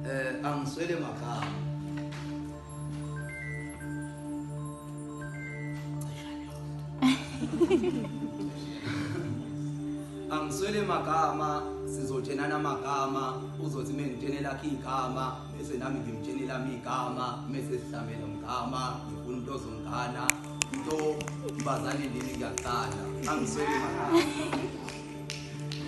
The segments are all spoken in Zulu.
Eh angiswele magama. angiswele magama sizotshenana amagama uzothi mina ngitshene lakhe igama bese nami ngimtshene lami igama bese sihlamela umgama ngifuna umuntu ozongana into mbazane lini ngiyaqala angiswele magama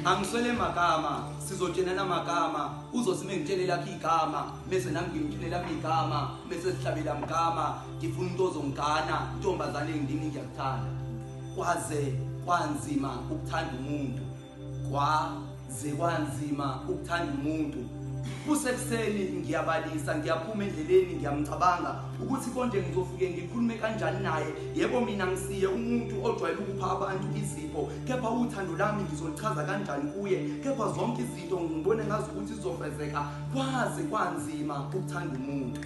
Angiswele magama sizotshenana magama uzothi mengitshele lakhe igama bese nami ngimtshele lami igama bese sihlabela mgama ngifuna into ozongigana intombazane ngidini ngiyakuthanda kwaze kwanzima ukuthanda umuntu kwaze kwanzima ukuthanda umuntu kusekuseni ngiyabalisa ngiyaphuma endleleni ngiyamcabanga ukuthi konje ngizofuke ngikhulume kanjani naye yebo mina ngisiye umuntu ojwayele ukupha abantu izipho kepha uthando lami ngizolichaza kanjani kuye kepha zonke izinto ngibone ngazi ukuthi zizofezeka kwaze kwanzima ukuthanda umuntu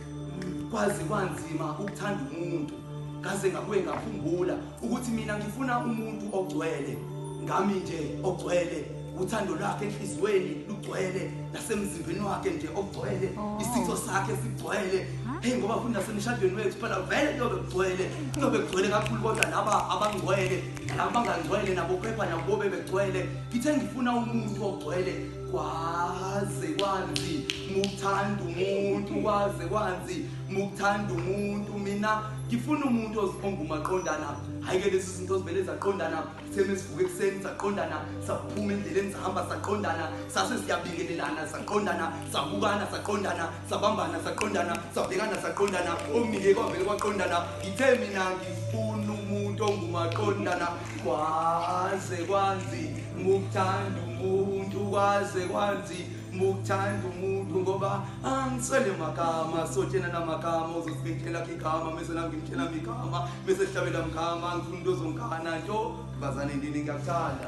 kwaze kwanzima ukuthanda umuntu ngaze ngabuye ngakhumbula ukuthi mina ngifuna umuntu ogcwele ngami nje ogcwele uthando lwakhe enhliziyweni lugcwele nasemzimbeni wakhe nje ogcwele oh. isitho sakhe sigcwele heyi ngoba futhi nasemshadweni wethu phela vele kuyobe kugcwele kuyobe kugcwele kakhulu kodwa laba abangcwele laba bangangcwele nabo kepha nabo bebegcwele ngithe ngifuna umuntu ogcwele kwaze kwanzi mukuthanda umuntu kwaze kwanzi mukuthanda umuntu mina ngifuna umuntu ozibonga umaqondana hhayi-ke lezi zinto zivele zaqondana sitheme sivuke ekuseni saqondana saphuma endleleni sahamba saqondana sase siyabingelelana saqondana sabukana saqondana sabambana saqondana sabhekana saqondana omnike kwavele kwaqondana ngithe mina ngifuna umuntu ongumaqondana kwaze kwanzi mukuthanda umuntu kwaze kwanzi mukuthanda umuntu ngoba angisele magama sotshena namagama uzosibekela khe igama mese nami ngimtshela migama mese sihlabela mgama ngifuna into ozongana nto bazane ndini ngiyakuthanda